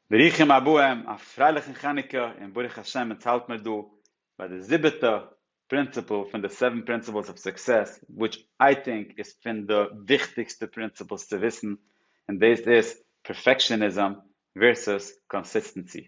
ברוכים הבאים, א פרייליכן חנוכה, און ברוך השם אונז האלט מיר דא ביי די זיבעטע פרינציפל פון די סעווען פרינסיפלס אוו סוקסעס, וויטש איי טינק איז פון די וויכטיגסטע פרינציפלס צו וויסן, און דאס איז פערפעקשאניזם ווערסוס קאנסיסטענסי.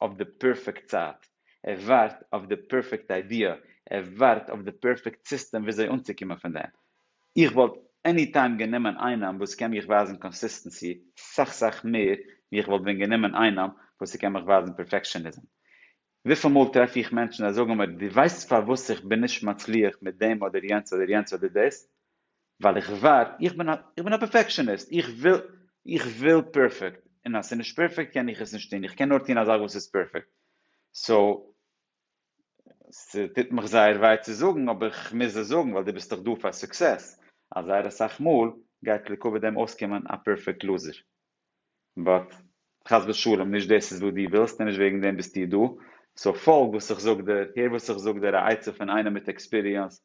אויף די פערפעקט צייט, ער ווארט אויף די פערפעקט איידיע, ער ווארט אויף די פערפעקט סיסטעם וויאזוי אנצוקומען פון דעם. איך וואלט עני טיים גענומען איינעם וואס קען מיך ווייזן קאנסיסטענסי סאך סאך מער ווי איך וואלט ווען גענומען איינעם וואס ס'קען מיך ווייזן פערפעקשעניזם. וויפיל מאל טרעף איך מענטשן זיי זאגן מיר דו ווייסט פארוואס איך בין נישט מצליח מיט דעם אדער יענץ אדער יענץ אדער דאס? ווייל איך ווארט, איך בין א, איך בין א פערפעקשעניסט, איך וויל, איך וויל פערפעקט, און אז ס'איז נישט פערפעקט קען איך עס נישט טון, איך קען נאר טון א זאך וואס איז פערפעקט, סאו, ס'טוט מיך זייער וויי צו זאגן, אבער איך מוז עס זאגן, ווייל דו ביסט דאך דא פאר סוקסעס, אז זייער אסאך מאל גייט לעיקוואד דעם אויסקומען א פערפעקט לוזער. באט חס ושלום נישט דאס איז וואס דו ווילסט און נישט וועגן דעם ביסטו דא, סאו פאלג וואס איך זאג דיר, הער וואס איך זאג דיר א עצה פון איינער מיט עקספיריענס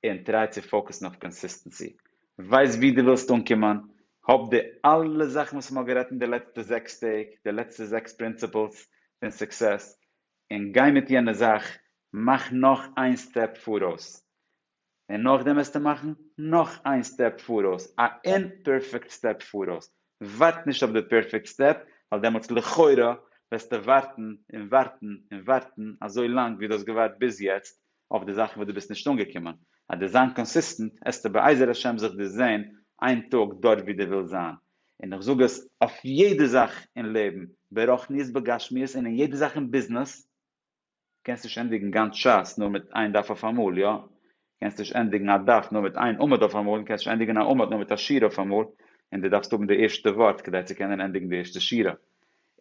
און טריי צו פאוקעסן אויף קאנסיסטענסי, ווייס ווי דו ווילסט אנקומען, האב די אלע זאכן וואס מ'האט גערעדט אין די לעצטע זעקס טעג, די לעצטע זעקס פרינציפלס פון סוקסעס, און גיי מיט יענע זאך, מאך נאך איין סטעפ פאראויס, און נאכדעם וועסטו מאכן נאך איין סטעפ פאראויס, א אומפערפעקט סטעפ פאראויס, ווארט נישט אויף די פערפעקט סטעפ, ווייל דעמאלטס לכאורה וועסטו ווארטן און ווארטן און ווארטן אזוי לאנג ווי דו האסט געווארט ביז יעצט אויף די זאכן וואס דו ביסט נישט אנגעקומען, אז דו זיין קאנסיסטענט עסטו בעזר השם זיך דיר זעהן איין טאג דארט ווי דו ווילסט זיין, און איך זאג עס אויף יעדע זאך אין לעבן ברחניות בגשמיות און אין יעדע זאך אין ביזנעס, קענסט נישט ענדיגן גאנץ שס נאר מיט איין דף אויפאמאל, יא? קענסט נישט ענדיגן א דף נאר מיט איין עמוד אויפאמאל, און קענסט נישט ענדיגן א עמוד נאר מיט א שורה אויפאמאל, און דו דארפסט האבן די ערשטע ווארט כדי צו קענען ענדיגן די ערשטע שורה.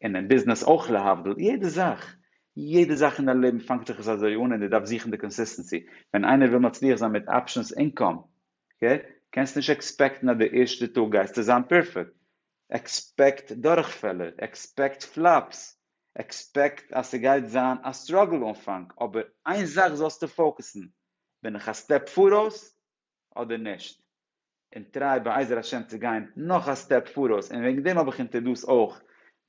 און אין ביזנעס אויך להבדיל, יעדע זאך, יעדע זאך אין דיין לעבן פאנגט זיך עס אזוי אן און דו דארפסט זוכן די קאנסיסטענסי. ווען איינער וויל מצליח זיין מיט אפשענס אינקאם, אקעי? קענסט נישט עקספעקטן אז די ערשטע טאג גייסטו זיין פערפעקט. עקספעקט דורכפעלער, עקספעקט פלאפס, עקספעקט אז ס'גייט זיין א סטראגל אנפאנג אבער איין זאך זאלסטו פאוקעסן, בין איך א סטעפ פאראויס אדער נישט? און טריי בעזר השם צו גיין נאך א סטעפ פאראויס און וועגן דעם האב איך אונטער דאס אויך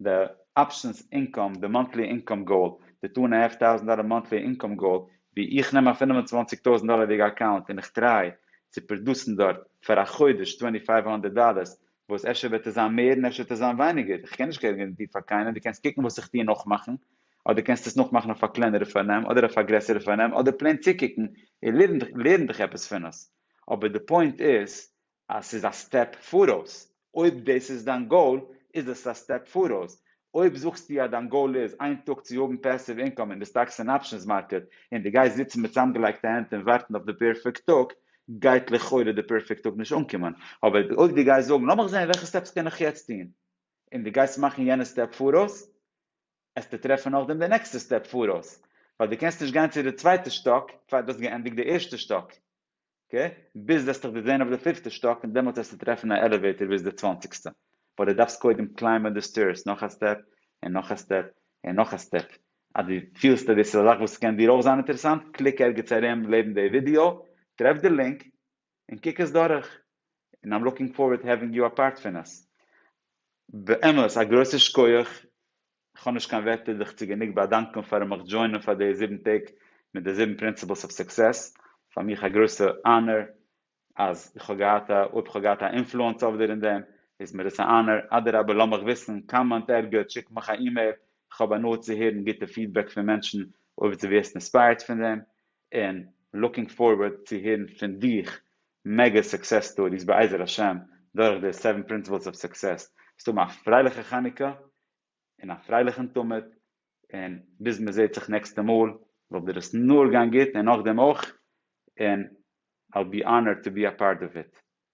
די אפשענס אינקאם, די מאנטלי אינקאם גאול, די טו ענד א האלף טאוזענט דאלער מאנטלי אינקאם גאול, ווי איך נעם א פֿינף און צוואַנציק טויזענט דאלערדיגע אקאונט און איך טריי צו פראדוסן דארט פאר א חודש טווענטי פייוו האנדערט דאלערס וואס אפשר וועט עס זיין מער און אפשר וועט עס זיין ווייניגער, איך קען נישט גערענטיר פאר קיינעם, דו קענסט קוקן וואס איך טוה נאכמאכן, אדער קענסט עס נאכמאכן אויף א קלענערע פארנעם אדער אויף א גרעסערע פארנעם אדער פלעין צוקוקן און לערן לערן דיך עפעס פון עס, אבער די פוינט איז אז ס'איז א סטעפ פאראויס, אויב דאס איז דיין גאול איז עס א סטעפ פאראויס, אויב זאגסטו אז דיין גאול איז איין טאג צו האבן פעסיוו אינקאם אין די סטאקס און אפשענס מארקעט און די גייסט זיצן מיט צאמגעלייגטע הענט און ווארטן אויף די פערפעקט טאג גייט לכאורה די פערפעקט טאג נישט אנקומען אבער אויב די גייסט זאגן לאמיך זען וועלכע סטעפס קען איך יעצט טון און די גייסט מאכן יענע סטעפ פאראויס עסטו טרעפן נאכדעם די נעקסטע סטעפ פאראויס ווייל די קענסט נישט גיין צו די צווייטע שטאק פאר די האסט געענדיגט די ערשטע שטאק אקעי, ביז וועסט דיך באווען אויף די פיפטע שטאק און דעמאלטס וועסטו טרעפן א עלעוועיטער ביז די צוואנציגסטע, באט די דארפסט קודם קליימבען די סטעירס נאך א סטעפ און נאך א סטעפ און נאך א סטעפ, אז די פילסט אז דאס איז א זאך וואס קען דיר אויך זיין אינטערעסאנט קליק ערגעץ ארום לעבן די ווידיאו טרעף די לינק און קוק עס דורך, און איים לוקינג פארווערד העווינג יו א פארט פון עס. באמת א גרויסע שקויעך איך האב נישט קיין ווערטער דיך צו גענוג באדאנקען פארן מיך דזשוינען פאר די זיבן טעג מיט די זיבן פרינסיפלס אוו סוקסעס, פאר מיך א גרויסע אנער אז איך האב געהאט א, אויב איך האב געהאט א אינפלוענס אויף דיר אין דעם איז מיר עס א אנער, אדרבה לאז מיך וויסן, קאמענט ערגעץ, שיק מיך א אימעיל, איך האב הנאה צו הערן גוטע פידבעק פון מענטשן אויב דו ווערסט אינספייערט פון דעם, און לוקינג פארווארד צו הערן פון דיך מעגא סוקסעס סטאריס בעזר השם דורך די זיבן פרינסיפלס אוו סוקסעס, וועסט האבן א פרייליכע חנוכה און א פרייליכן תמיד, און ביז מען זעט זיך נעקסטע מאל זאל דיר עס נאר גיין גוט און נאכדעם אויך, און I'll be honored to be a part of it.